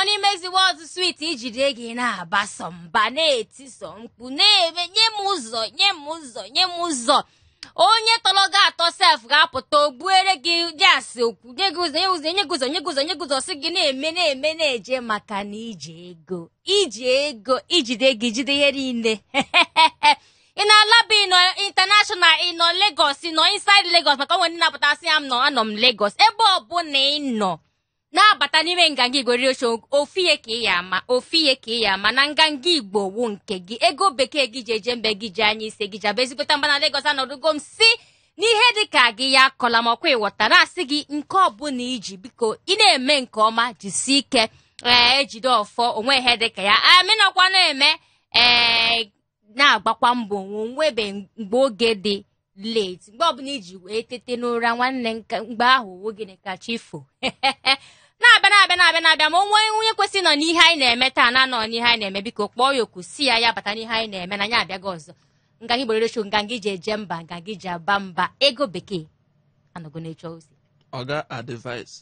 money makes the world sweet ijide ego ị na-abaso mba na-etiso mkpu na-eme nye m ụzọ nye m ụzọ nye m ụzọ onye tọrọ gị atọ sef ga-apụta ogbuere gị jas okwu nye gị ụzọ nye ụzọ nye gị ụzọ nye gị ụzọ nye gị ụzọ sị gị na-eme na-eme na-eje maka na iji ego iji ego ijide ego ijide ihe niile ị nọ Alaba ị nọ international ị nọ Lagos ị nọ inside Lagos maka o nwe ndị na-apụta sị ya m nọ anọ m Lagos ebe ọbụla ị nọ na-abata n'ime nganga Igbo redio show ofu ihe ka ị ya ama ofu ihe ka ị ya ama na nganga Igbo wu nke gị ego bekee gị ji eje mba gị ji anya isi gị ji aba ezigbote mba na Lagos anọdụgo m sị na ihe dị ka gị ya akọla m ọ kwa ị ghọta na-asị gị nke ọbụla ị ji biko ị na-eme nke ọma jisie ike ee ejide ọfọ o nwe ihe dị ka ya amịnọkwa na-eme ee na-agbakwa mbọ o nwebe mgbe oge dị late mgbe ọbụla i ji wee tete n'ụra nwanne nna mgbe ahụ ọ wụ gịnị ka chi fo na-abịa na-abịa na-abịa na-abịa ma o nwe onye kwesịrị nọ n'ihe anyị na-eme taa na anọ n'ihe anyị na-eme biko kpọọ ya oku sị ya ya bata n'ihe anyị na-eme na anyị abịago ọzọ nganga Igbo redio show nganga e ji eje mba nganga e ji aba mba ego bekee anọgo n'oche ọ sị Oga advice.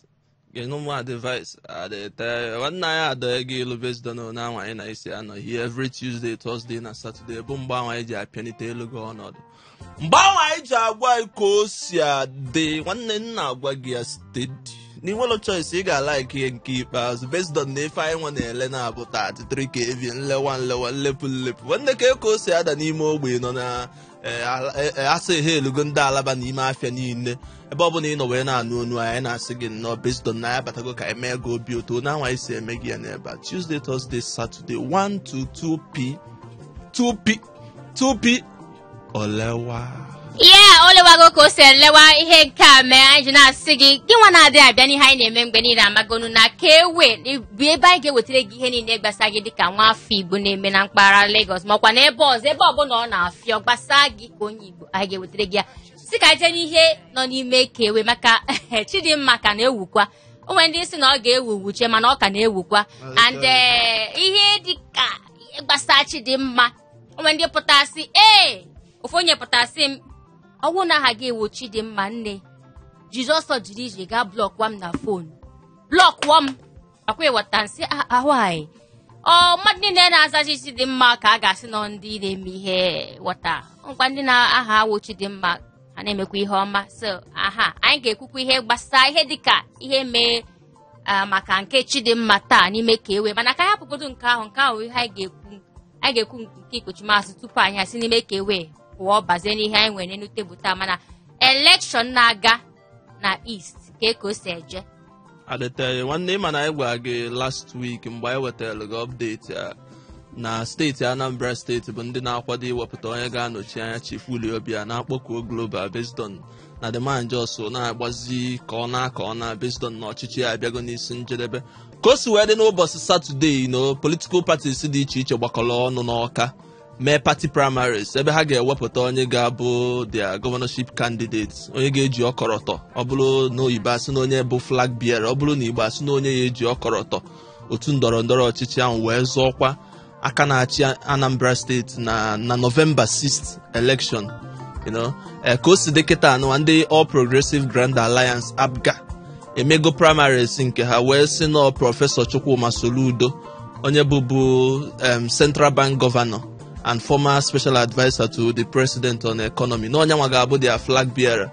Genu m advice nwanne anyị adọghị gị ilu based on na anwa anyị si anọ here every Tuesday, Thursday na Saturday bụ mgbe anyị ji apịanite elu gị ọnọdụ mgbe ahụ anyị ji agwa anyị ka o si adị nwanne m na-agwa gị ya steady na i nwelo choice ị ga-like ihe nke ikpeazụ based on na ife anyị nwa na-ele na-abụ 33 kv nlewa nlewa nlepụ nlepụ nwanne ka ka o si ada n'ime ogbe nọ na ee, ala- ee, ee, a sị ihe elugo ndị Alaba n'ime afịa niile ebe ọ bụla ị nọ wee na-anụ onu anyị na-asị gị nnọọ based on na anyị abatago ka anyị mee gị obi ụtọ na anwa anyị si eme gị ya n'ebe a tuesday thursday saturday 1 to 2 p 2 p 2 p olewa ihe o lewago ka o si elewa ihe nke a mee anyị ji na-asị gị gị nwa na-adịghị abịa n'ihe anyị na-eme mgbe niile a magonu na ka ewe bụ ebe anyị ga-ewetara gị ihe niile gbasa gị dịka nwa afọ Igbo na-eme na mpaghara Lagos makwa na ebe ọzọ ebe ọbụla ọ na-afịọ gbasa gị ka onye Igbo anyị ga-ewetara gị ya sị ka jee n'ihe nọ n'ime ka ewe maka Chidimma ka na-ewukwa o nwe ndị sị na ọ ga-ewu wuche mana ọ ka na-ewukwa and eh, ihe dịka gbasa Chidimma o nwe ndị pụta sị ee ofu onye pụta sị m ọ wụ na aha gị awụ Chidimma nne Jizọs jiri ije gaa blọkụọ m na fonu blọkụọ m ọ kwa ị wọta nsị a- ahụ anyị ọ mmadụ niile na-azazi Chidimma ka a ga-asị na ndị na-eme ihe wọta ngwa ndị na aha awụ Chidimma ha na-emekwa ihe ọma so aha anyị ga-ekwukwa ihe gbasara ihe dịka ihe mee ah, maka nke Chidimma taa n'ime ka ewe mana ka anyị hapụgodo nke ahụ nke ahụ ihe anyị ga-ekwu anyị ga-ekwu nke ikpochi azụ tupu anyị esi n'ime ka ewe pụọ bazie n'ihe anyị nwere n'elu tebụl taa mana elekshọn na-aga na east ka eke o si eje adịtaghị nwanne ịma na anyị gwara gị last week mgbe anyị wetara gị update a na steeti anambra steeti bụ ndị na-akwado iwepụta onye ga-anọchi anya chief willie obiano akpọkuo global based on na the man just na-agbazi ka ọ naa ka ọ naa based on na ọchịchị ya abịago n'isi njedebe ka o si wee dị n'ụbọchị saturday na political parties dị iche iche gbakọrọ ọnụ n'ọka mee party primaries ebe ha ga-ewepụta onye ga-abụ their governorship candidate onye ga-eji ọkọrọtọ ọ bụrụ na oyibo asị na onye bụ flag bearer ọ bụrụ na igbo asị na onye ya-eji ọkọrọtọ otu ndọrọ ndọrọ ọchịchị ahụ wee zọọ ọkwa aka na-achị anambra steeti na na november 6th election you know eh, ka o si dị kịta anụwa ndị all progressive grand alliance apga emego primaries nke ha wee sị na prọfesọ chukwuma soludo onye bụbu um, central bank governor and former special adviser to the president on economy na ọ nyanwa ga-abụ their flag bearer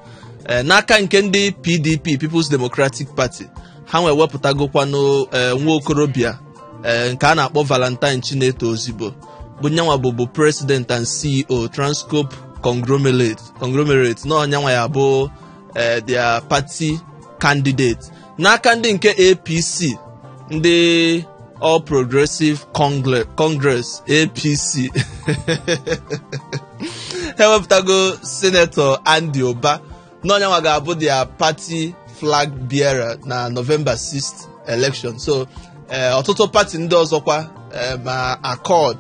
Eh, n'aka nke ndị pdp people's democratic party hanwa ewepụtagokwanụ eh, nwa okorobịa eh, nke a na-akpọ valentine chineto ozigbo bụ nyanwa bụbu president and ceo transcorp conglomerate conglomerate na ọ nyanwa ya-abụ eh, their party candidate n'aka ndị nke apc ndị all progressive Congle- congress apc ha ewepụtago senetọ andy ụba na ọ nyanwa ga-abụ their party flag bearer na november 6th election so eh, ọtụtụ party ndị ọzọkwa eh, ma accord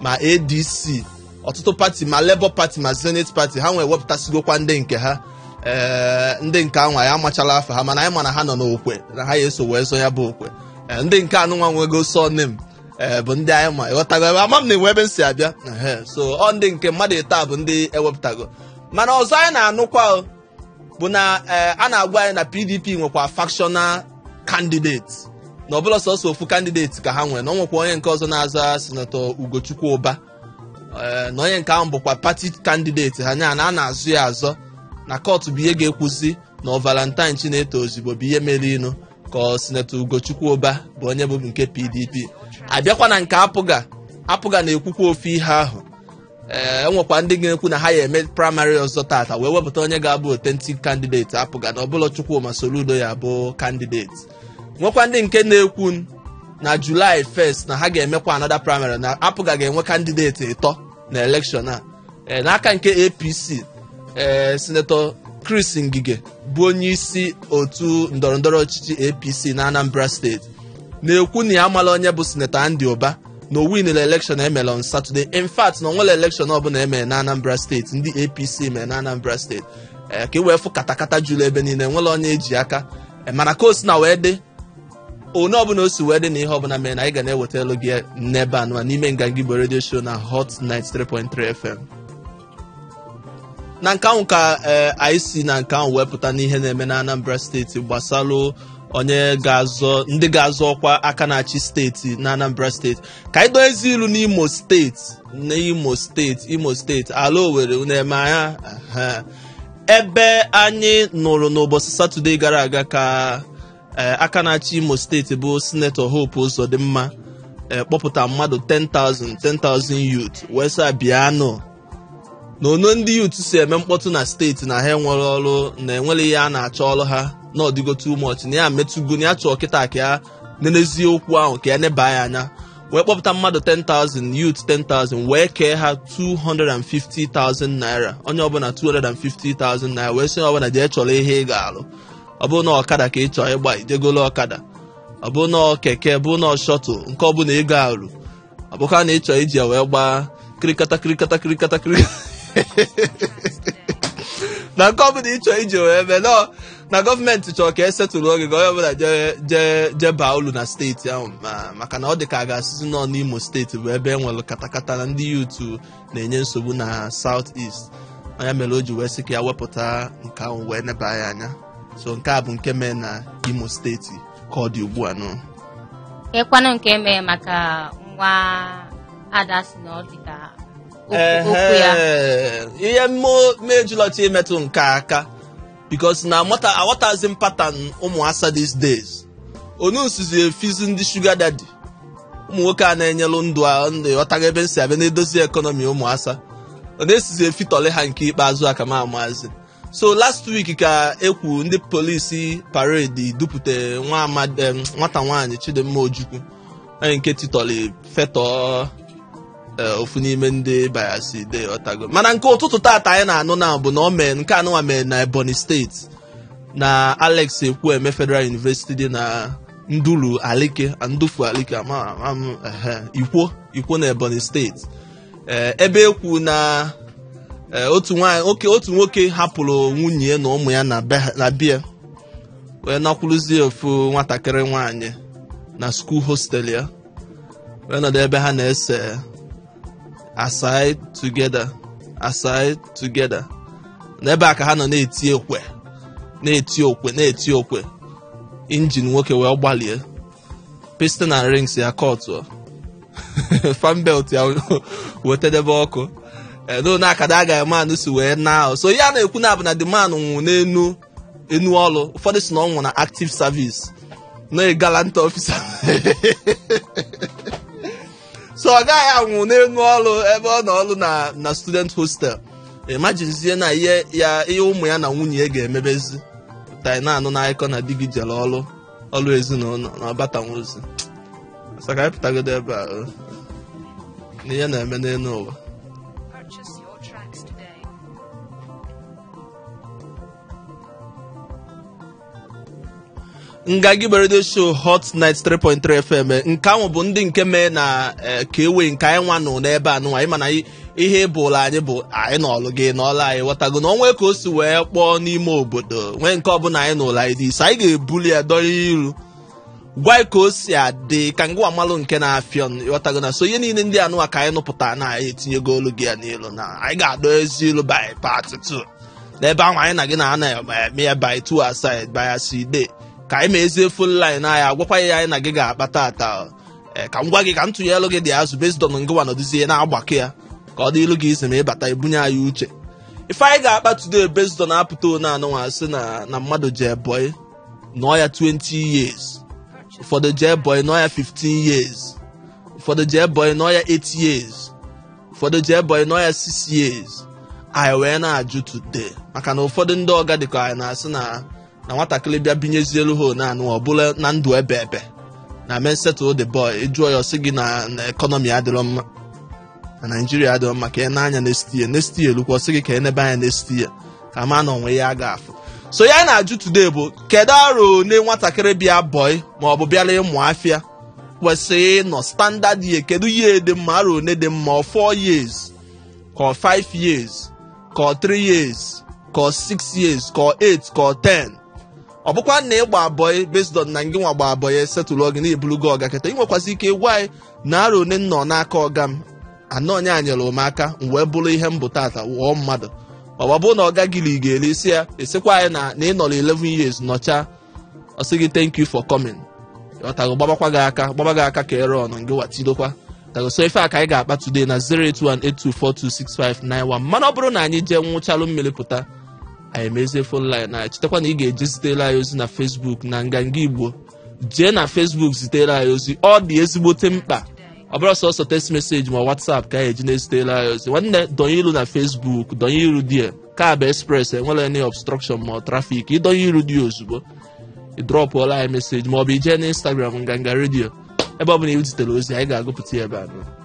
ma adc ọtụtụ party ma labour party ma zenith party hanwa ewepụtasịgokwa ndị nke ha ee ndị nke anwa ya amachala afa ha mana anyị ma na ha nọ n'okwe na ha ya-eso wee zọ ya bụ ọkwa Ee, ndị nke anụnwa nwego surname ee bụ ndị anyị ma ịghọtago ebe ama m na enwe ebe m si abịa Ehe, so ọ ndị nke mmadụ ịtọ bụ ndị ewepụtago mana ọzọ anyị na-anụkwa o, bụ na eh, a na-agwa anyị na pdp nwekwa factional candidate na ọ bụla sọsọ ofu candidate ka ha nwere na ọ nwekwa onye nke ọzọ na-azọ sinetọ ugochukwu ụba Eh, na onye nke ahụ bụkwa party candidate ha nya na a na-azọ ya azọ na kọtụ bụ ihe ga-ekwuzi na ọ valentine chineto ozigbo bụ ihe merinụ ka ọ sinetọ ugochukwu ụba bụ onye bụ nke pdp abịakwa na nke apga apga na-ekwukwa ofu ihe ahụ ee enwekwa ndị ga-ekwu na ha ya-eme primary ọzọ tata wee wepụta onye ga-abụ authentic candidate APGA na ọ bụla Chukwuma Soludo ya bụ candidate nwekwa ndị nke na-ekwu na July 1st na ha ga-emekwa another primary na APGA ga-enwe candidate ịtọ na election a ee n'aka nke APC ee sinetọ Chris Ngige bụ onye isi otu ndọrọndọrọ ọchịchị APC na Anambra steeti na-ekwu na ya amala onye bụ sinetọ Andy Ụba na o winere elekshọn emere on Saturday in fact na onwere elekshọn ọbụla emere na Anambra steeti ndị APC mere na Anambra steeti ee ka e wee fụ katakata juru ebe niile nwere onye eji aka Ee, mana ka o si na wee dị onye ọbụla o si wee dị na ihe ọbụla mere na anyị ga na-ewetalụ gị n'ebe anụwa n'ime nganga igbo redio show na hot 93.3 fm na nke ahụ ka ee anyị si na nke ahụ wepụta n'ihe na-eme na Anambra steeti gbasalụ onye ga-azọ ndị ga-azọ ọkwa aka na-achị steeti na Anambra steeti ka anyị dozie ilu n'Imo steeti na Imo steeti Imo steeti ala Owerri na-eme anya ebe anyị nụrụ n'ụbọchị Satọde gara aga ka ee aka na-achị imo steeti bụ sinetọ hope ụzọdịmma ee kpọpụta mmadụ 10,000 10,000 youth wee sị bịanụ na onu ndị youth si eme mkpọtụ na steeti na ha enwerọ ọrụ na enwere ihe a na-achọ ọrụ ha na ọ dịgo too much na ya metụgo na ya chọọ kịta ka ya nenezie okwu ahụ ka ya neba ya anya wee kpọpụta mmadụ 10,000 youth 10,000 wee kee ha 250,000 naira onye ọbụla 250,000 naira wee sị onye ọbụla jee chọrọ ihe ị ga-alụ ọ bụrụ na ọkada ka ị chọọ ịgba i jee golo ọkada ọ bụrụ na keke bụ na shuttle nke ọ bụla ị ga-arụ ọ bụkwa na ị chọọ iji ya wee gbaa kirikata kirikata kirikata kiri na nke ọbụla ị chọọ iji wee mee nọ na gọọmenti chọrọ ka esetụrụ oge ka onye ọbụla jee jee jee baa ulu na steeti ahụ ma- maka na ọ dị ka a ga-asịzi nọ n'imo steeti bụ ebe e nwere katakata na ndị youth na-enye nsogbu na South East ọ ya mere o ji wee sị ka ya wepụta nke ahụ wee neba ya anya so nke a bụ nke mee na Imo steeti ka ọ dị ugbu a nụ ịkwanụ nke emee maka nwa ada si na ọ dị ka okwu okwu ya Ehe, ihe mee m jili chọọ imetụ nke a aka because na amata aghọtazi m pattern ụmụ asa these days onu nsizi efizi ndị sugar daddy ụmụ nwoke a na-enyelụ ndụ a ndị ghọtaghị ebe nsi abịa na-edozi ekọnọmi ụmụ asa ọ na-esizi efitọlị ha nke ikpeazụ aka ma amazi so last week ka ekwu ndị polisi parade dupụta nwa amadi em, nwata nwaanyị chidimma ojukwu onye nke titọlị fetọ Eh, ofu n'ime ndị bayasi de ọtago mana nke ụtụtụ tata anyị na-anụ na bụ na ọ mee nke anụnwa mee na ebonyi steeti na alex ekwueme federal university dị na ndulu alike ndufu alike ama ama m, ehe, ikwo ikwo na ebonyi steeti Eh, ebe ekwu na eh, otu nwanyị oke otu nwoke hapụrụ nwunye ya na ụmụ ya na be ha- na be ya wee nakwuruzie ofu nwatakịrị nwanyị na school hostel ya wee nọdụ ebe ha na-ese aside together aside together na ebe a ka ha nọ na-eti okwe na-eti okwe na-eti okwe injin nwoke wee gbalie piston and rings ya kọtụọ fan belt ya wetedebe ọkụ edo na akada agaghị manụ si wee na so ha na-ekwu na ọ bụ na the man nwụ n'enu enu ọrụ ụfọdụ si na ọ nwụ na active service na gallant officer so ọ gaghị anwụ n'enu ọrụ ebe ọ nọ ọrụ na na student hostel imaginezie na ihe ya ihe ụmụ ya na nwunye ya ga-emebezi taa na-anụ n'akụkọ na di gị jere ọrụ ọrụ ezinụlọ na ọ batanwozi so ka anyị pụtagodo ebe a o. na ihe na-eme n'elu ụwa Nganga Igbo radio show hot 93.3 fm nke ahụ bụ ndị nke mee na eh, ka e wee nke anyị nwa nọ n'ebe anụnwa anyị ma na i- ihe ọ bụla anyị bụ anyị nụ olu gị ị nụ olu anyị ghọtago na o nwe ka o si wee kpọọ n'ime obodo nwee nke ọbụla anyị n'ụlọ anyị dị isi anyị ga-ebuli ya dọrọ iru gwa anyị ka o si adị ka ngịwa malụ nke na-afịọ n- ịghọtago na so ihe niile ndị anụwa ka anyị nụpụta na anyị etinyegolu gị ya n'ilu na anyị ga-adọ ezi ilu by part 2 n'ebe ahụ anyị na gị na ana eme ya by 2 aside by asị ide ka anyị mezie fon line anyị agwakwa ya anyị na gị ga-akpa tata o. Ee, ka m gwa gị ka m tụnyelu gị dị azụ based on ngịwa nọdụzie na-agbakọ ya ka ọ dịlụ gị easy ma ị bata i bunye anyị uche ife anyị ga-akpa today based on apụta one anụnwa sị na na mmadụ jee bọị nọọ ya 20 years ụfọdụ jee bọị nọọ ya 15 years ụfọdụ jee bọị nọọ ya 8 years ụfọdụ jee bọị nọọ ya 6 years anyị wee na-ajụ today maka na ụfọdụ ndị ọga dịka anyị na-asị na na nwatakịrị bịa binyezielu ha naanị ọ bụla na ndụ ebe ebe na men settle the boy ị jụọ ya ọ sị gị na na ekọnọmi adịrọ mma na naijiria adịrọ mma ka ị nee anya next year next year lukwa ọ sị gị ka e nebe anya next year ka ma na o nwe ihe a ga-afụ so ihe a na-ajụ today bụ kedu arọ one nwatakịrị bịa bọị ma ọ bụ bịara ịmụ afịa kwesịrị ịnọ standard year kedu year dị mma arọ one dị mma ọ 4 years ka ọ 5 years ka ọ 3 years ka ọ 6 years ka ọ 8 ka ọ 10 ọ bụkwa na ị gba bọị based on na ngị nwa gba bọị e settle gị na ị bụlụgo ọga kịta ị nwekwazi ike ịgwa anyị na arọ one m nọ n'aka ọga m na ọ nya nyere m aka m wee bụrụ ihe m bụ tata ghọọ mmadụ ọwa bụ na ọga gị ga-eri isi ya esikwa anyị na na ị nọrọ 11 years nọcha ọ sị gị thank you for coming ghọtago gbabakwa gị aka gbaba gị aka ka ire ọnụ gị watidokwa tago so ife a ka anyị ga-akpa today na 08182426591 mana ọ bụrụ na anyị jee nwụchalụ mmiri pụta anyị mezie fon line na chetakwa na ị ga-eje zitere anyị ozi na Facebook na nganga Igbo jee na Facebook zitere anyị ozi ọ dị ezigbote mkpa ọ bụrọ sọsọ text message ma WhatsApp ka a ya-eji na-ezitere anyị ozi nwanne donye ilu na Facebook donye iru die ka bụ express enwerọ any obstruction ma trafik ịdonye iru dị ozugbo ịdrọpụọla anyị meseji ma ọ bụ ijee na Instagram nganga redio ebe ọ bụla i zitere ozi anyị ga-agụpụta ya ebe a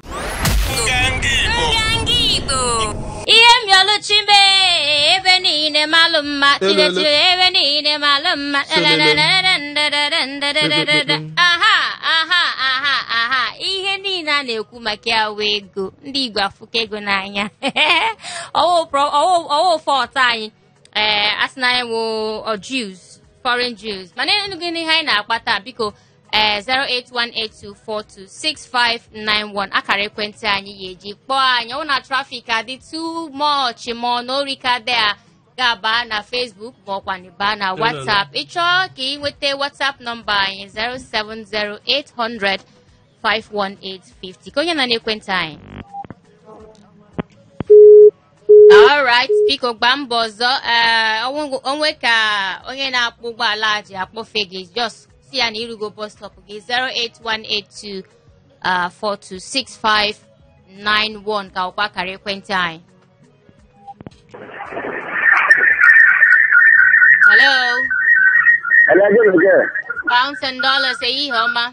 ihe mioluchi mee ebe niile malụ mma chinechiri ebe niile malụ mma aha aha aha aha ihe niile a na-ekwu maka ya wụ ego ndị Igbo afụka ego n'anya ọ wụ fault anyị ee asị na anyị wụ Jews foreign Jews mana ịnụgo ihe anyị na-akpata biko ee 08182426591 akara ekwentị anyị ị ya-eji kpọọ anyị ọ na trafik adị too much ma ọ na ori ka dị a ga-aba na Facebook ma ọ kwanụ ịba na WhatsApp ịchọọ ka ị nweta WhatsApp nọmba anyị 07080051850 ka onye nọ n'ekwentị anyị alright biko gbaa mbọ ọzọ ee o nwe- o nwee ka onye na-akpọ ụgbọala ji akpọfe gị just sị ya na irugo bus stop gị 08182 ah, 426591 ka wụkwa akara ekwentị anyị hello Hello, good again. pounds and dollars ehihie ọma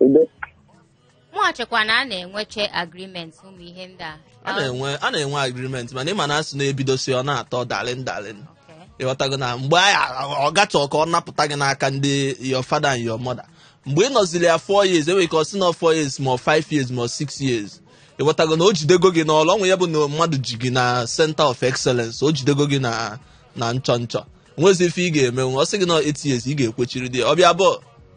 Udo. mụ echekwa na a na-enwecha agreement ụmụ ihe ndị a a na-enwe a na-enwe agreement mana ị ma na asị na-ebidosi ọ na-atọ darling darling Okay. ịghọtago na mgbe ahụ ọ ga-achọ ka ọ napụta gị n'aka ndị your father and your mother mgbe ị nọziri ya 4 years enwere ike ọ sị na 4 years ma 5 years ma 6 years ịghọtago na o jidego gị n'olu ọnwụ ya bụ na mmadụ ji gị na center of excellence o jidego gị na na nchọ nchọ nwezi ife ị ga-eme ọ sị gị na 8 years ị ga-ekwechiri dị ya. ọ bịa bụ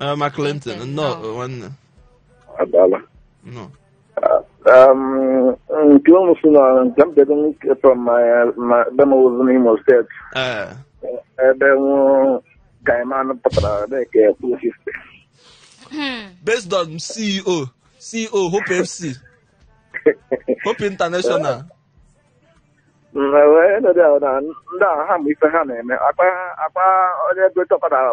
Eh, ma Clinton, Clinton, nnọọ nnọọ. nwanne. adala Nnọọ. Um, nke unu si na nke m bịago nwoke from my my be m ozi n'Imo State Eh, ebe nwụ Kaiman pụtara ebe ka ekwu siste based on CEO, CEO Hope FC, Hope International. wee nọdụ ahụ na ndị ahụ ha ma ife ha na-eme akpa akpa onye ego chọpụtara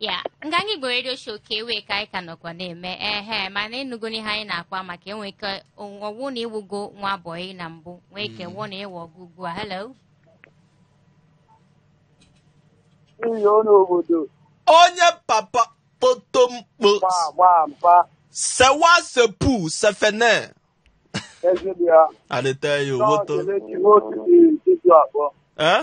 yeah Nganga Igbo redio show ka ọ wụ ka anyị ka nọkwa na-eme ehe mana ịnụgo n'ihe anyị na-akọwa maka enwe ike ọwụ na ịwụgo nwa bọyị na mbụ nwee ike wụọ na ịwụ ọga ugbu a hello n'ihi ọnụ obodo onye papa kpotomkpo gbaa gbaa mpa sewa sepu sefene ezigbo ya adịte ya nọọsụ owoto emechi nwoke dị tupu akpọ eh?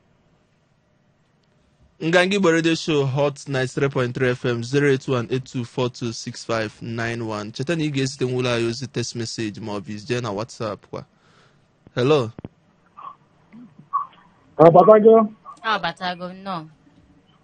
nganga igbo radio show hot 93.3 fm 08182426591 cheta na ị ga-ezite nwụlọ anyị ozi text message ma ọ bụ ị jee na whatsapp kwa hello Ọ batago? Ọ batago nnọọ.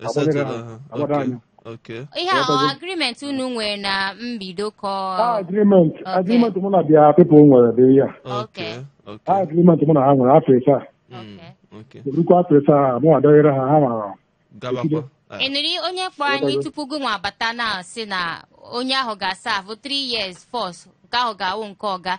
E setụla ha. ha. Agbado Okay. anya. Okay. ihe a ọ agreement unu nwere na mbido ka ọ- agreement Okay. agreement mụ na their people nwere dị ya Okay. Okay. agreement mụ na ha nwere afọ ịsaa Mm, Okay. erukwa afọ ịsaa mụ adọghịrị ha ha mara Gabakwa. Ah, ị nụrụ onye kpọ anyị tupu gị nwa bata na-asị na onye ahụ ga-aserve 3 years first nke ahụ ga-awụ nke ọga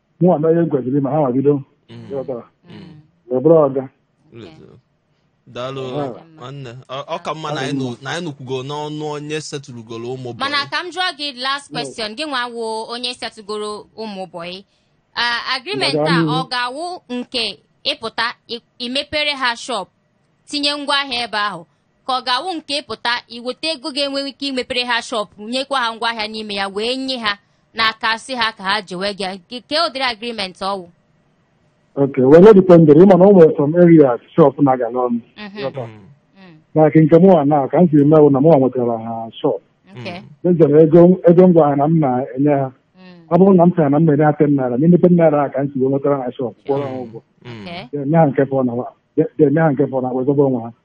mụnwa mee ihe m kwesịrị ime ha nwa bido Mm. ị ghọtara Mm. wee bụrụ ọga Lezoro. daalụ Ọ ka mma. nwanne Ọ- ọ ka mma na anyị nụ- na anyị nụkwugo n'ọnụ onye setụlụgoro ụmụ bọyị. mana ka m jụọ gị last question gị nwa wụ onye setụgoro ụmụ bọyị agreement a Mmadụ ọ anụ. ga-awụ nke ị pụta ị- imepere ha shop tinye ngwa ahịa ebe ahụ ka ọ ga-awụ nke ị pụta i weta ego ga-enwe ike imepere ha shop nyekwa ha ngwa ahịa n'ime ya wee nye ha n'aka sị ha ka ha jewe gị Nke- kee ụdịrị agreement ọ wụ Okay, well, ọ dependere ị ma na o nwere some areas shop na-agala ọnụ Mhm. Ghọta? Mm, like nke mụnwa na ka m si mee wụ na mụnwa nwetara ha shop okay. mejọrọ ego ego ngwa ahịa na m na-enye ha Mm, ọ bụrụ na m sịra na m na-enye ha ten naira n'ime ten naira ahụ ka m si wee nwetara ha shop kwụọrọ ha ụgwọ okay. ga-enye ha nke fọrọ na wa ga-enye ha nke fọrọ na wee zọba onwe ha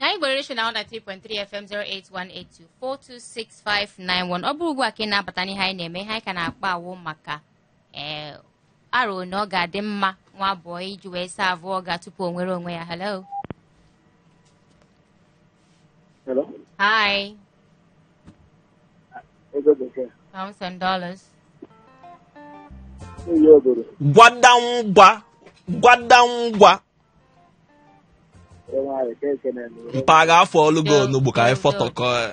nganga igbo radio show hot 93.3 fm 08182426591 ọ bụrụ ugbu a ka ị na-abata n'ihe anyị na-eme ihe anyị ka na-akpa awụ maka ee arọ na ọ ga-adị mma nwa bọyị ji wee serve ọga tupu o nwere onwe ya hello Hello? hi Ego bekee. pounds and dollars Ihe obodo. gwadangwa gwadangwa mpa ga afọ ọlụ gị onugbu ka anyị fọtọkọ ya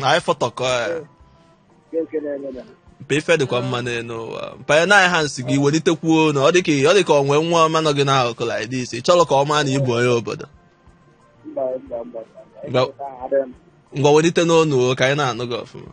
na anyị fọtọkọ ya mpa ife dịkwa mma n'elu ụwa mpa ya naghị ha m sị gị welitekwuo onu ọ dịka ọ dịka o nwe nwa ọma nọ gị n'akụkụ like this ị chọrọ ka ọ maa na ị bụ onye obodo ngwa welite n'onu ka anyị na-anụ gị ọfụma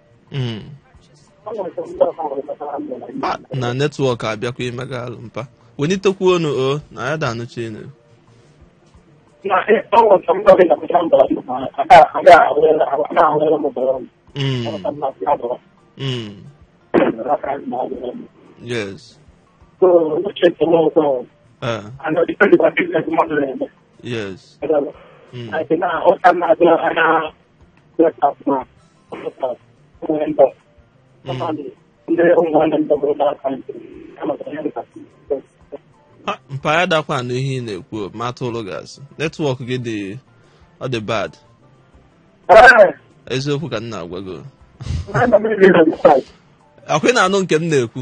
Mm. Ah, na netwọk abịakwa imega alụ mpa welitekwu onu o na ya da anụchi enu Mm. Mm. yes Ah, yes Mm. mpa anyị adakwa anụ ihe ị na-ekwu mata ụlụ gasị netwọk gị dị ọ dị bad eziokwu ka m na-agwa gị ọkwa ị na-anụ nke m na-ekwu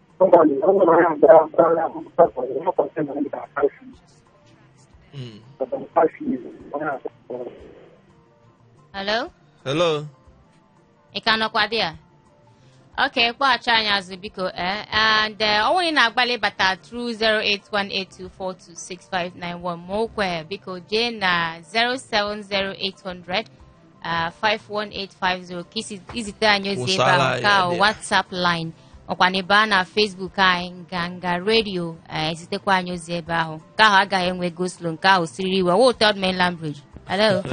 Mm. Hello? Hello? Ị ka nọkwa there? Ok, kpọghachi anyị azụ biko eh? and eh, onye na-agbalị ịbata through 08182426591 ma okwe biko jee na 070800 ah, 51850 ka isi- izite anyị ozi ebe ahụ whatsapp line ọkwa na ebe a na facebook anyị nganga redio eh, ezitekwa anyị ozi ebe ahụ nke ahụ agaghị enwe go-slow nke ahụ siriri iwe wụọ third mainland bridge hello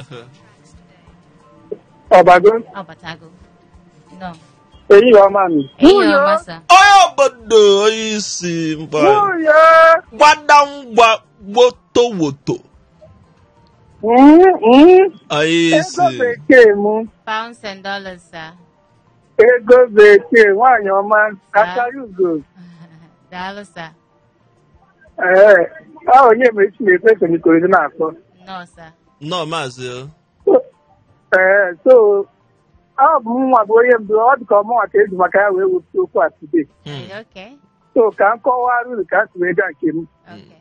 ọbago ọ batago no ehihie ọma nụ enyi ọma sir onye obodo onye isi mkpa nwunye gbadangwa gbotowoto Mm, mm. Onye isi. Ego bekee m. Pounds and dollars, sir. Ego bekee nwaanyị ọma akara ugo. Daalụ, sir. Ee, ọ Onyemaechi na-ekwu si n'Ikorodu na-akpọ. Nnọọ, sir. Nnọọ maazị o. Ee, so ọ bụ mụnwa bụ onye mbụ ọ dị ka ọ mụnwa ka e ji maka ya wee wepụta okwu a today. Hmm. Okay. So ka m kọwara unu ka m si wee gaa nke m. Okay.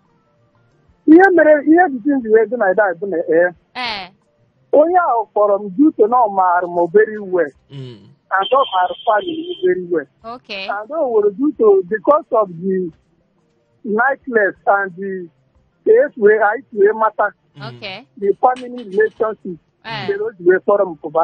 ihe mere the thing ji wee dị in order bụ na ee ee onye ahụ kpọrọ m due to na ọ maara m very well Mm. and ọ maara family very well okay and o wee due to because of the niceness and the ka e si wee anyị si wee mata okay the family relationship ee mere o ji wee kpọrọ m pụba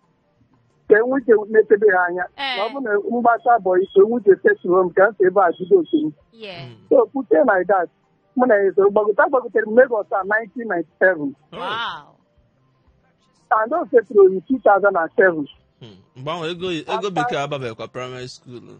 ka e nwee ike na-elebe ha anya Ee. na ọ bụrụ na m gbasa boy o nwee ike settle m ka m si ebe a jido oke m Yeah. so pute like that mụ na ya esoro gbagota gbagotere m Lagos a 1997 Wow. and o setụrụ oyi 2007 mgbe ahụ ego ego bekee ababekwa primary school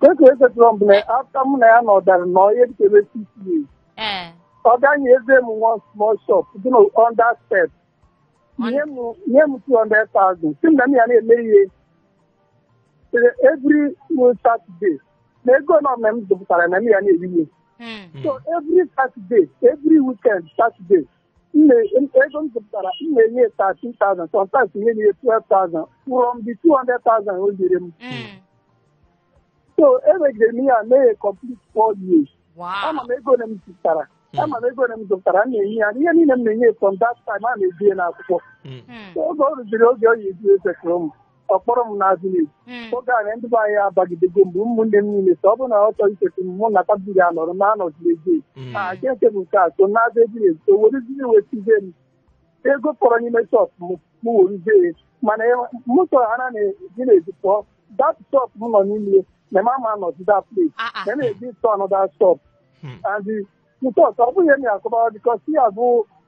Otu e si settle m na after mụ na ya nọdara n'ihe dị ka six years. ee Ọ gaghị eze m one small shop dị na under step. Nye m nye m 200,000. Sị m na m ya na-eme ihe eh, every eh, Saturday. Na ego nọ na m zụpụtara na m ya na-eri ihe. Hmm. So every Saturday, every weekend Saturday, m na- m- ego m zụpụtara m na-enye ya 13,000 sometimes ihe na-enye 12,000 from the 200,000 o nyere m Mm. so emegidere m ihe a mee ya complete four years Wow. ama m ego ole m zụpụtara ama m ego ole m zụpụtara m na-enye ya ihe niile m na-enye ya from that time a na-ede ya n'akwụkwọ Mm. Mm. So oge o ruziri oge ọ ya eji settle mụ ọ kpọrọ m nazie village Mm. oge a na ndị be anyị abagidego mgbe ụmụnne m niile so ọ bụrụ na ọ chọrọ icheta m mụ na tabiri anọrọ ma anọziri ego Mm. a ga nke bụ nke a so nazie village so wereziri wetizie m ego fọrọ n'ime shop m m weruzie ya mana e- m chọrọ ha na eji na-eji pụọ that shop m nọ n'ime ya na ma ma nọzi that place Ah, ah. na na-eji to another shop Hmm. and nke ọzọ ọ bụghị ihe m akọbara because ya bụ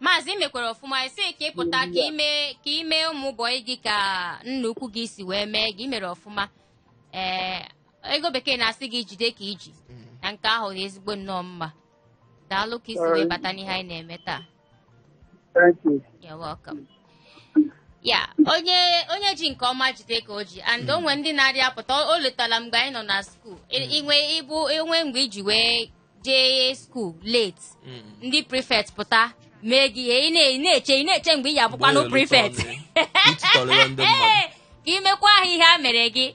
maazị ị mekwara ọfụma ị sị ka ị pụta ka ime ka ime ụmụ bọyị gị ka nna ukwu gị si wee mee gị i mere ọfụma ee ego bekee na-asị gị jide ka iji na nke ahụ dị ezigbo nnọọ mma daalụ ka isi wee bata n'ihe anyị na-eme taa Thank you. You're welcome. ya onye onye ji nke ọma jide ka o ji and o nwere ndị na-arị apụta o letala mgbe anyị nọ na skuul inwe ịbụ enwe mgbe iji wee jee skuul late Mm. ndị prefect pụta mee gị ihe ị na- ị na-eche ị na-eche mgbe ị ya abụkwanụ Mgbe ị prefect rụtọrọ ya, ịtụtọrọ ya ndị mmadụ. ka imekwa ha ihe a mere gị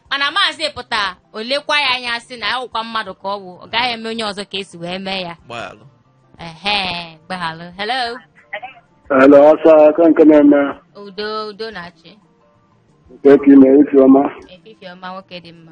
mana maazị pụta o lekwa ya anya sị na awụkwa mmadụ ka ọ wụ ọ gaghị eme onye ọzọ ka esi wee mee ya Gbaghalụ. ehe gbaghalụ hello Hello, ọsọ aka nke na-eme udo udo na-achị nke ka ime isi ọma. efifie ọma nwoke dị mma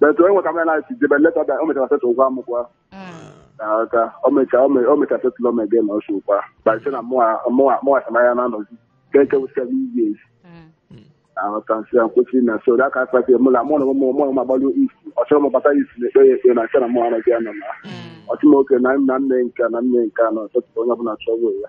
but onye nwe ka mere na si jebe later o mechara settle gwa m kwa aka o mechara o mechara settle ome gị na ọsụ kwa by sị na mụwa serve ya na anọzi ka eke wụ seven years aghọta nsị ya nkwụsị na so da aka kpatị mụ na mụ na ụmụ ụmụ agbalụ isi ọ chọrọ m bata isi na ekpere ekpere na nke na mụ anaghị ya nọ na ọtụmoke na nna nne nke na nne nke na ọtụtụ onye ọbụla chọrọ ya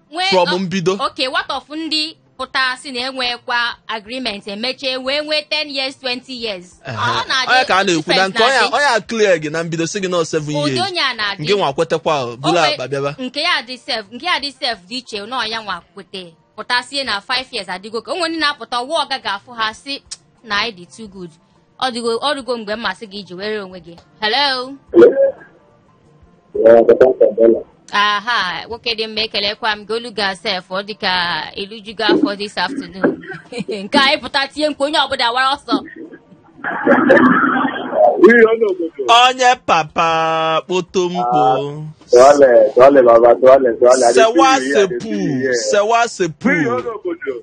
Nwee- from ọ- mbido okay what of ndị pụta si na enwekwa agreement emecha wee nwee 10 years 20 years Ehe. Ọ na-adị onye ka a na-ekwu na difference nke onye na-adị. onye a clear gị na mbido si gị nọ 7 ụdị years onye a na-adị ngị nwa kwetekwa ahụ, buru Onwe- akpa bịaba nke ya dị sef nke ya dị sef dị iche na ọ nya nwa kwete pụta sie na 5 years adịgo okay onwe ndị na-apụta ọwa ọga ga-afụ ha si na ị dị too good ọ dịgo ọ dịgo mgbe masị gị iji were onwe gị hello aha nwoke dị mma ekelekwa m gị olu gị sef ọ dịka i lijugo afọ this afternoon nke a ị pụta tie mkpu onye ọbụla wara ọsọ onye papa kpoto mkpo sewa sepu sewa sepu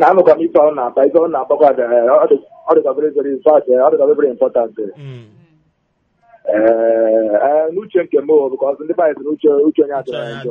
na-anụkwa m ife ọ na-ata ife ọ na-atakwa ọ dịkwa very very fast ọ dịkwa very important n'uche nke m bụ ka ọzọ ndị baịs n'uche uche onye adịrị njọ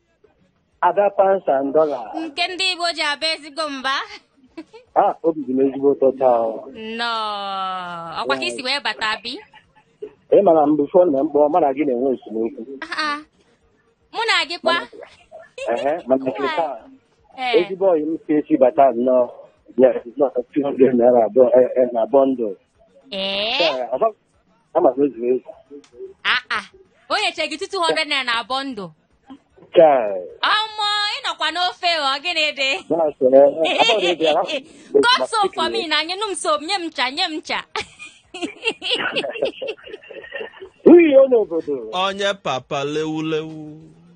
Ada pounds and dollar. nke ndị Igbo ji aba ezigbo mba Ah, obi dị m ezigbo ụtọ taa. o. nnọọ ọkwa ka i si wee bata bi Ị ma na mgbe ọ bụna m kpọọ mụ na gị na-enwe esemokwu. Ah, ah. mụ na gị kwa Ehe, mana nke taa, Ee. ezigbo ọyị m ka i si bata nnọọ. Yes, it's not 200 naira abụọ eh, eh, na bundle. Ee. Ee, ọ bụ- ama m ezu ezu aa o nyechee gị 200 naira na bundle chai ọmọ ị nọkwa n'ofe ọ gịnị dị na-asịrị abalị dị ala cut soap for me na nye nụ m soap nye m ncha nye m ncha uyi ọ n'obodo onye papa lewulewu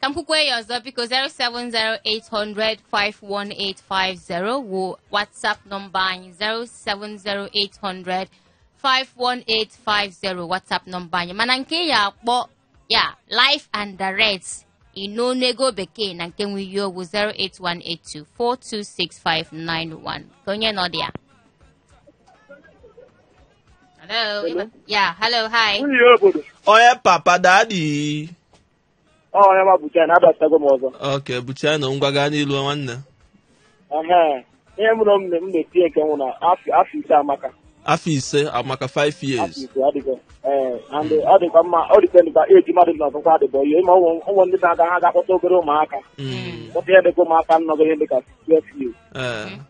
ka m kwukwee ya ọzọ biko 07080051850 wụ whatsapp nọmba anyị 07080051850 whatsapp nọmba anyị mana nke ị ya-akpọ ya live and direct ino n'ego bekee na nke nwe ihe ọ bụ 08182426591 kee onye nọ there hello ya hello hi onye papa daddy Ọ Onyema Bucha na abatago m ọzọ. okay Bucha na ngwa gaa n'ilu nwanne Ehe. Ihe mụrụ m na- m na-etinye nke m wụ na afọ afọ ise amaka. afọ ise amaka 5 Afọ years ise adịgo. Ee, and ọ dịkwa mma ọ dịkwa ndịkwa eji mmadụ na ọkụkọ adịbọ ihe ma ụmụ ụmụ ndị na-aga ha ga-akpọta obere ụmụaka. Mm, Kpọta ihe dịka ụmụaka nọgo ihe dịka 12 years. eh,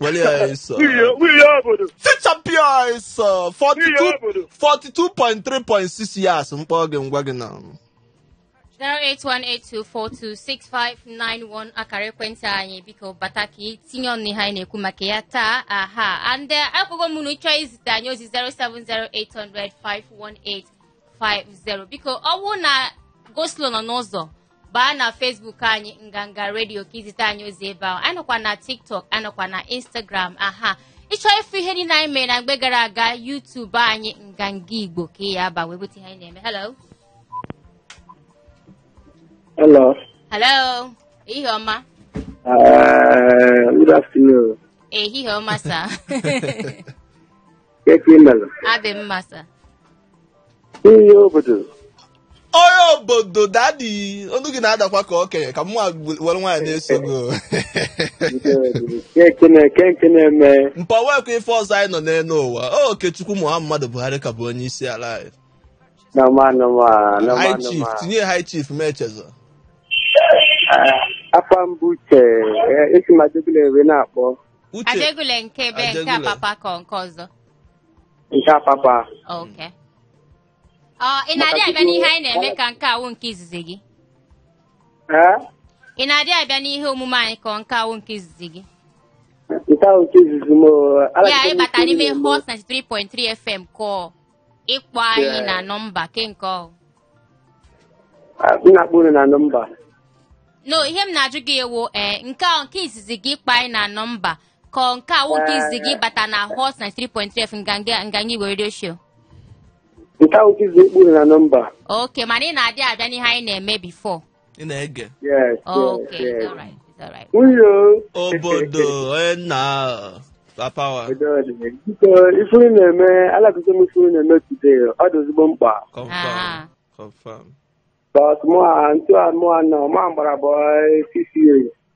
Were ya ịsọ. nwunye nwunye obodo Fichapịa ịsọ. Nwunye 42 obodo 42.3.6 years mkpọ gị ngwa gị na. 08182426591 akara ekwentị anyị biko bata ka ị tinye ọnụ ihe anyị na-ekwu maka ya taa aha and eh, ekwugo m unu chọọ izite anyị ozi 07080051850 biko ọ bụrụ na go-slow nọ n'ụzọ baa na Facebook anyị nganga redio ka i zite anyị ozi ebe ahụ anyị nọkwa na tiktok anyị nọkwa na instagram aha ị chọọ ịfụ ihe niile anyị mere na mgbe gara aga YouTube anyị nganga igbo ka ị ya-aba wee bute ihe anyị na-eme hello Hello. hello ehihie ọma Uh, good afternoon. ehihie ọma sa Kee ka i melụ. adị m mma sa Ihe obodo. onye obodo dadi onu gị na-adakwa ka okenye ka mụ were nwayọọ na-eso gị o. Kee ke na- kee ke na-eme. mpa nwekwa ife ọzọ anyị nọ n'elu ụwa o okechukwu muhammadu buhari ka bụ onye isi ala anyị Na ma na ma na ma high na chief ma. tinye high chief ma echezọ Ah, Afa m bụ Uche. eh, Esi m Ajegunle wee na-akpọ. Uche Ajegunle nke ebe nke Ajegunle. Apapa ka nke ọzọ. nke Apapa Okay. Ọ ị na-adị Maka abịa tupu- n'ihe anyị na-eme ka nke a wụ nke izizi gị? ee Ị na-adị abịa n'ihe omume anyị ka nke a wụ nke izizi gị? nke a wụ nke izizi m o, Ya alaghachiri m ịbata isi n'ime nri mbụ. Hot 93.3 FM ka ọ. ịkpọ anyị na nọmba kee nke ọ wụ na-akpọ unu na nọmba no ihe m na-ajụ gị wụ ee nke a nke izizi gị ịkpọ anyị na nọmba ka ọ nke a wụ nke izizi gị ịbata na hot 93.3 nganga nganga igwe radio show nke a wụ izizi ịkpọ unu na nọmba okay mana ị na-adị abịa n'ihe anyị na-eme before ị na-ege Yes, yes, Okay, yes. all right, it's all right. Uyo. obodo onye n'Apapa Wharf Obodo dị. Biko, ife unu na-eme, alakụkọ m ife unu na-eme today, ọ dị ezigbo mkpa. confam Ah. confam But mụwa, etu a mụwa nọ, mụwa gbara bọị six years.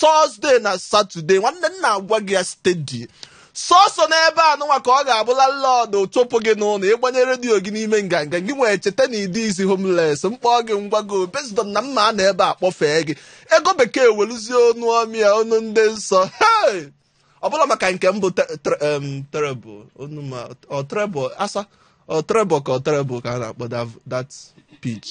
Thursday na Saturday nwanne m na-agwa gị ya steady sọsọ n'ebe a nụnwa ka ọ ga-abụ landlord tụpụ gị n'ụlọ ị gbanye redio gị n'ime nganga ị gaghị echeta na ị dịzi homeless mkpọ gị ngwa gị obezidọ na mma a na ebe a kpọfee gị ego bekee weluzie onu ọma onu ndị nsọ hey! ọ bụla maka nke m bụ te- tre- em, treble onu ma ọ treble asa ọ treble ka ọ treble ka a na-akpọ that- that pitch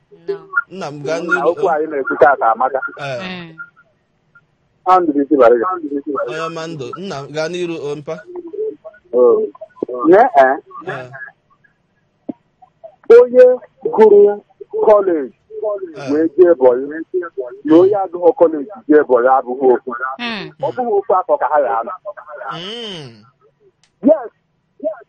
nọ nna m gaa na okwu n'iru anyị na-ekwu taata amaka ee Mm. ha ndụrụ isi bara gị onye ọma ndụ nna m gaa n'iru o mpa Oo. nye ee ee onye gụrụ kọleji ee wee jee bọyị na onye agụghọ kọleji jee bọyị abụghị ofu Mm. ọ bụghị ofu afọ ka ha ya-anọ Mm. yes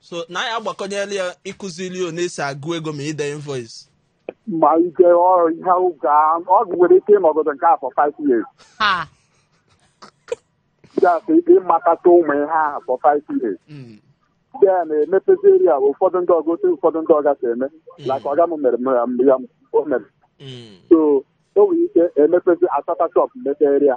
so na anyị agbakọnyela ya ịkụziri ya na esi agụ ego ma ide invoice ma ike ọ ihe oge a ọ nwere ike ịnọgide nke a for 5 years ha just ịmatata ụmụ ihe ahụ for 5 years Mm. then emepeziere ya ụfọdụ ndị ọga otu ụfọdụ ndị ọga si eme like ọga m mere m ya m- ya m- o mere Mm. so o nwere ike emepezi asata shop mepeere ya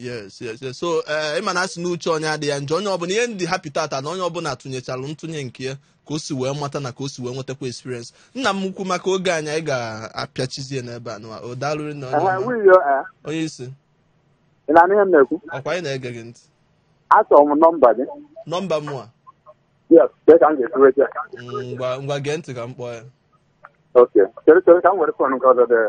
yes yes yes so eh, ị ma na a sị na uche onye adịghị ya njọ onye ọbụla ihe m dị happy tata na onye ọbụla tụnyechara ntụnye nke ya ka o si wee mata na ka o si wee nwetakwa experience nna m ukwu maka oge anyị anyị ga-apịachizie n'ebe a nụnwa o daalụ rinne onye ọma. nwiyo onye isi ị na-anụ ihe m na-ekwu ọkwa anyị na-ege gị ntị achọrọ m nọmba gị nọmba mụwa yes kee ka m ga-esiwe gị mm, ngwa ngwa gee ntị ka m kpọọ ya okay chere chere ka m were fon nke ọzọ dee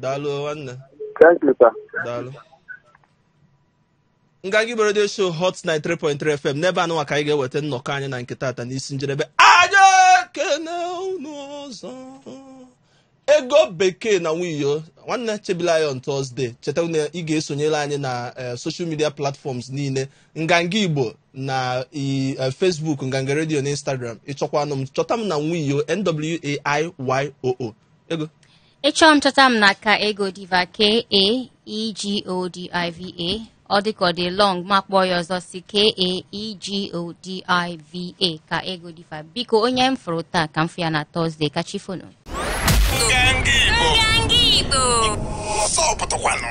daalụ nwanne Thank you, sir. daalụ nganga igbo redio show hot 93.3 fm n'ebe a nụnwa ka anyị ga-eweta nnọkọ anyị na nke tata n'isi njedebe anyị ekene unu ọzọ ego bekee na nwiyo nwanne chebila ya on tọzde cheta na ị ga-esonyere anyị na eh, social media platforms niile nganga igbo na i- eh, facebook nganga redio na instagram ị chọkwanụ m chọta m na nwiyo n w a i y o o ego ị chọọ m chọta m na ka ego diva k a e g o d i v a ọ dịka ọ dị long m akpọọ ya ọzọ sị k a e g o d i v a ka ego diva biko onye m fụrụ taa ka m fụ ya na tọzdee ka chi foo nụ Nganga Igbo. Nganga Igbo. Ọsọ pụtakwanụ.